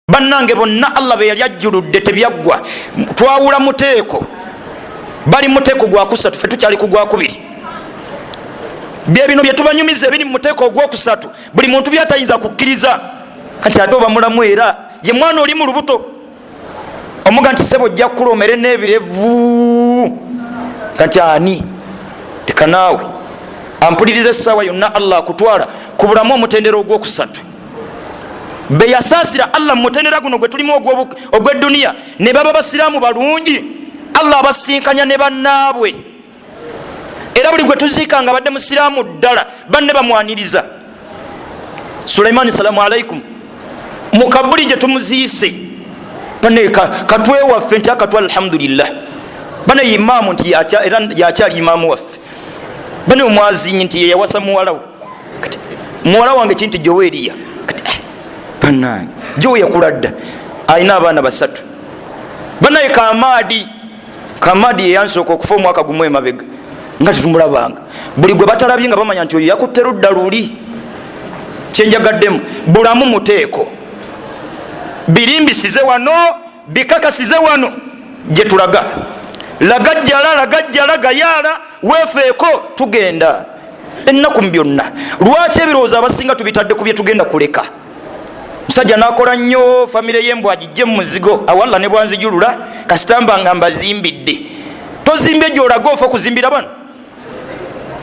bannange bonna allah be yali ajjuludde tebyaggwa twawula muteeko bali muteeko gwakusatu fe tukyali kugwakubiri byebino byetubanyumiza ebiri mu muteeko ogwokusatu buli muntu byatayinza kukkiriza kati ate oba mulamu era ye mwana oli mu lubuto omuga nti sebo ojja kukula omere n'ebirevu kati ani leka naawe ampuliriza essaawa yonna allah akutwala ku bulamu omutendera ogwokusatu be yasaasira allah mu mutendera guno gwe tulimu ogw'edduniya ne baba basiraamu balungi allah abasinkanya ne bannaabwe era buli gwe tuziika nga badde musiraamu ddala banne bamwaniriza sulaimaani salaamu alaikum mu kabuli gye tumuziise bane katwe waffe nti akatwa alhamdulillah bane imaamu nti era yakyali imaamu waffe bane omwazinyi nti yeyawasa muwalawo kati muwala wange kinti joweeriya kati eh, banange jowe yakula dda alina abaana basatu banaye kamaadi kamaadi yeyansooka okufa omwaka gumu emabega nga tetumulabanga buli gwe batalabye nga bamanya nti oyo yakutte ludda luli kyenjagaddemu bulamu muteeko birimbisize wano bikakasize wano gye tulaga lagajjala lagajjala gayaala weefeeko tugenda ennaku mu byonna lwaki ebirowoozo abasinga tubitadde ku bye tugenda kuleka musajja nakola nnyo famire yembwa agijje mu muzigo awalla ne bwanzijulula kasitamba nga mbazimbidde tozimbye gyolaga ofa okuzimbira bano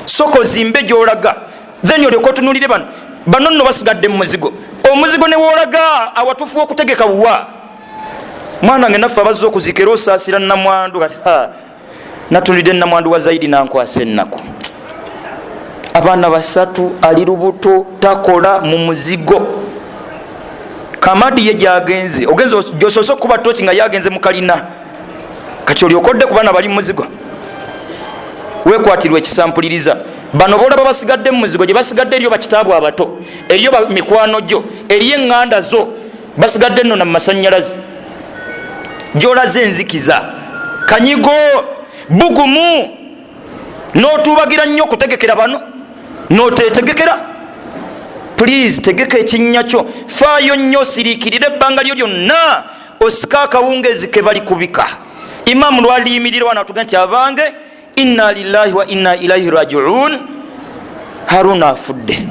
soka ozimbe gyolaga then olyoka otunulire bano bano nno basigadde mu muzigo omuzigo newolaga awatufu wokutegeka wa mwana wange naffe abazza okuzika era osaasira namwandu kati natunulidde namwandu wa zaidi nankwasa ennaku abaana basatu ali lubuto takola mu muzigo kamadi ye gyagenze ogenze gyosoose okukuba toki nga yagenze mu kalina kati olyoka odde ku baana bali mumuzigo wekwatirwa ekisampuliriza bano bolaba basigadde mumuzigo gyebasigadde eriyo bakitaabu abato eriyo mikwano gyo eriyo eŋŋanda zo basigadde nno na mumasanyalaze gyolaze enzikiza kanyigo bugumu notubagira nnyo okutegekera bano notetegekera please tegeka ekinnya kyo faayo nnyo siriikirira ebbanga lyo lyonna osika akawungezi kebali kubika imamu lwaliyimirira wana atuge nti abange inna lillahi wa inna ilaihi rajiun haruna afudde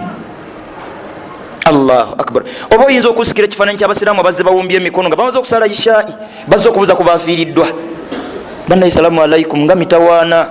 allahu akbar oba oyinza okusikira ekifaananyi kyabasiraamu abazze bawumbye emikono nga bamaze okusala ishai bazze okubuza ku bafiiriddwa banaye salamu alaikum nga mitawaana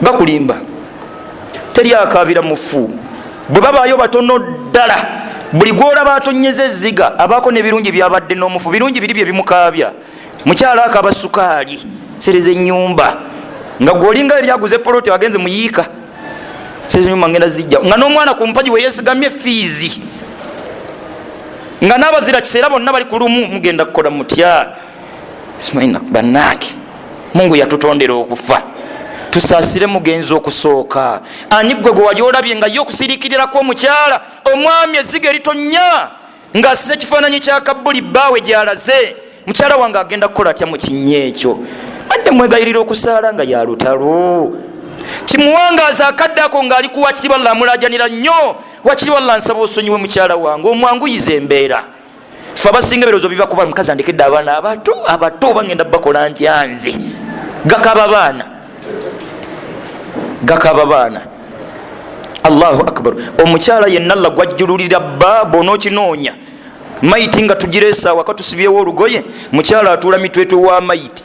bakulimba teri akaabira mufu bwe babaayo batono ddala buli gwolaba atonyeza ezziga abaako nebirungi byabadde n'omufu birungi biri bye bimukaabya mukyalo ako abasukaali sereza enyumba nga gwolinga eri aguze poloti agenze muyiika sereza enyumba ngenda zijja nga n'omwana ku mpagi weyesigamye fiizi nga n'abazira kiseera bonna bali ku lumu mugenda kukola mutya banange mungu yatutondera okufa tusasire mugenzi okusooka ani gwe gwe wali olabye nga ye okusirikirirako omukyala omwami eziga eritonya nga asize ekifaananyi kya kabbuli bbaawe gyalaze mukyala wange agenda kukola atya mu kinya ekyo adde mwegayirira okusaala nga yalutalo kimuwangaaza akadde ako ng'ali kuwakiri walla amulajanira nnyo wakiri walla nsaba osonyiwe mukyala wange omwanguyiza embeera fe abasinga ebirozo bibakuba mukazi andekedde abaana abato abato oba ngenda bakola ntya nze gakaba baana gakaba baana allahu akbar omukyala yenna la gwajjululira bba bona okinoonya mayiti nga tugireesaawa katusibyewo olugoye mukyala atuula mitwetwe wa mayiti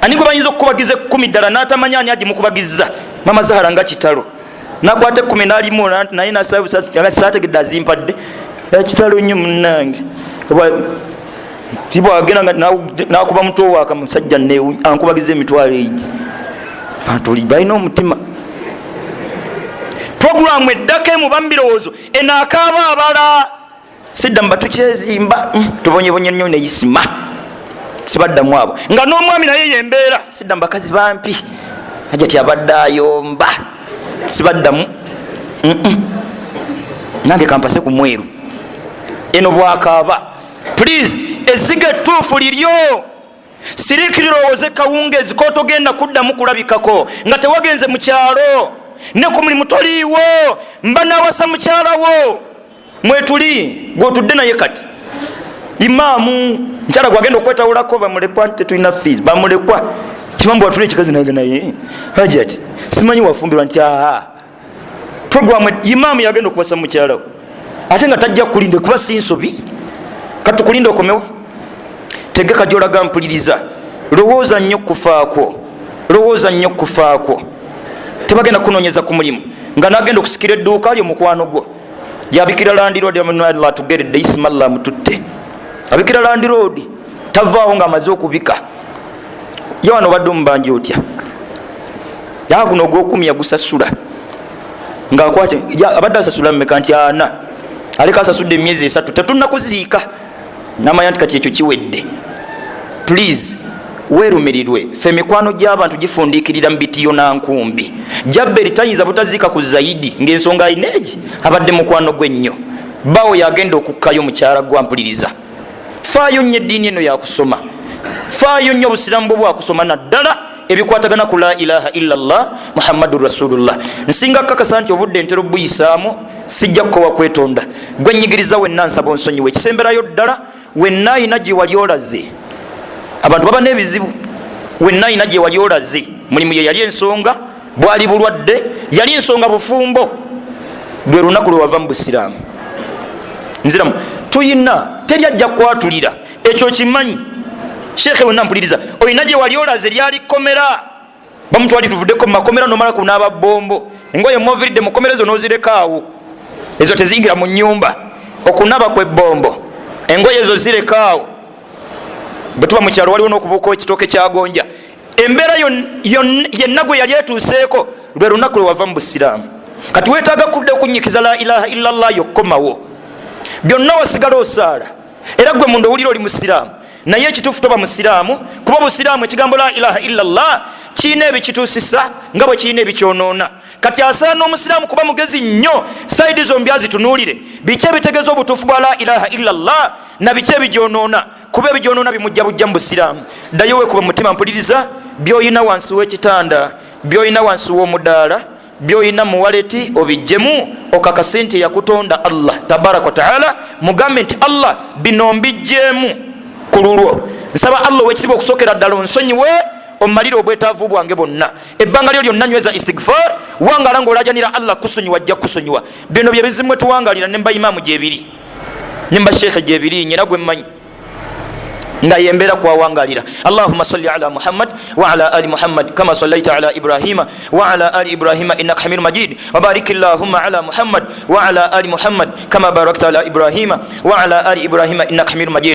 ani gwe bayinza okukubagiza ekkumi ddala n'atamanya ani agimukubagizza mama zahara nga kitalo nakwata ekkumi nalimu naye nasategedde azimpadde ekitalo nnyo munange tibwagenda nakuba mutwe waka musajja ankubagiza emitwalo egi bantu oli balina omutima programu eddako emu bamubirowoozo enaakaaba abala sidda muba tukyezimba mm, tubonyebonye nnyo neyisima sibaddamu abo nga n'omwami naye yembeera sidda mubakazi bampi ajati abadde ayomba sibaddamu nange kampase ku mweru eno bwakaaba please eziga ettuufu liryo sirikirirowoze kawungezi kotogenda kuddamu kulabikako nga tewagenze mu kyalo ne ku mulimu toliiwo mba nawasa mukyalawo mwetuli gwotudde naye kati imaamu nkyala gwagenda okwetawulako bamulekwa tetulina fees bamulekwa kibambu watula ekikazi nange naye hajat simanyi wafumbirwa nti aa programu imaamu yagenda okubasa mukyalawo ate nga tajja kukulinda kuba si nsobi katukulinda okomewo tegeka gyolaga mpuliriza lowooza nnyo kufaakwo lowooza nnyo kufaakwo tebagenda kunonyeza ku mulimu nga nagenda okusikira edduuka lyo mukwano gwo yabikira landiroodi amanwaliro atugeredde isimallah mututte abikira landiroodi tavaawo nga amaze okubika ye wano obadde omubanja otya yaa guno ogwokumi yagusasula ngaakwate abadde asasula mumeka nti ana aleka asasudde emyezi esatu tetunakuziika namanya nti kati ekyo kiwedde please werumirirwe fe emikwano gy'abantu gifundikirira mu bitiyo na nkumbi jabberi tayinza butaziika ku zaidi ng'ensonga alina egi abadde mukwano gwe nnyo bawo yagenda okukkayo mukyala gwampuliriza faayo nnyo eddiini eno yakusoma faayo nnyo obusiramu bwo bwakusoma naddala ebikwatagana ku la ilaha illa llah muhammadu rasulullah nsinga kakasa nti obudde ntera obuyisaamu sijja kukowa kwetonda gwe nyigiriza wenna nsaba onsonyiwa ekisemberayo ddala wenna ayina gyewali olaze abantu baba n'ebizibu wenna ayina gyewali olaze mulimu ye yali ensonga bwali bulwadde yali nsonga bufumbo lwe lunaku lwewava mu busiraamu nziramu tuyina teri ajja kwatulira ekyo kimanyi sheekhe wenna mpuliriza olina gye wali olaze lyali kkomera bamutwali tuvuddeko mumakomera nomala kunaaba bombo engoye moviridde mukomera ezo nozirekaawo ezo teziyingira mu nyumba okunaba kwebombo engoye ezo zirekaawo bwetuba mukyalo waliwo nokubuuka ekitooke kyagonja embeera yenna gwe yali etuuseeko lwe lunaku lwewava mu busiraamu kati wetaaga kudda okunyikiza la ilaha illa llah yokkomawo byonna wasigala osaala era gwe munda owulira oli musiraamu naye ekituufu toba musiraamu kuba obusiraamu ekigambo la ilaha illa llah kirina ebikituusisa nga bwe kirina ebikyonoona kati asaana omusiraamu kuba mugezi nnyo saidi zombi azitunuulire biki ebitegeeza obutuufu bwa la ilaha illa llah na biki ebigyonoona kuba ebigyonoona bimujja bujja mu busiraamu ddayo wekuba mutima mpuliriza byoyina wansi w'ekitanda byoyina wansi w'omudaala byoyina muwaleti obijjemu okakase nti eyakutonda allah tabaraka wataala mugambe nti allah bino mbijjeemu ku lulwo nsaba allah owekitibwa okusokera ddala onsonyiwe omalire obwetaavu bwange bwonna ebbanga lyo lyonna nyweza istigfar wangala nga olajanira allah kusonyiwa ajja kusonyiwa bino byebizimu etuwangalira nemba imaamu gyebiri nemba sheekhe gyebiri nyina gwemmanyi nga yembeera kwawangalira allahuma sali ala muhammad waala ali muhammad kama salaita ala ibrahima waala ali ibrahima innaka hamidu majid wabarik llahuma ala muhammad waala ali muhammad kama barakta ala ibrahima waala ali ibrahima innaka hamidu majid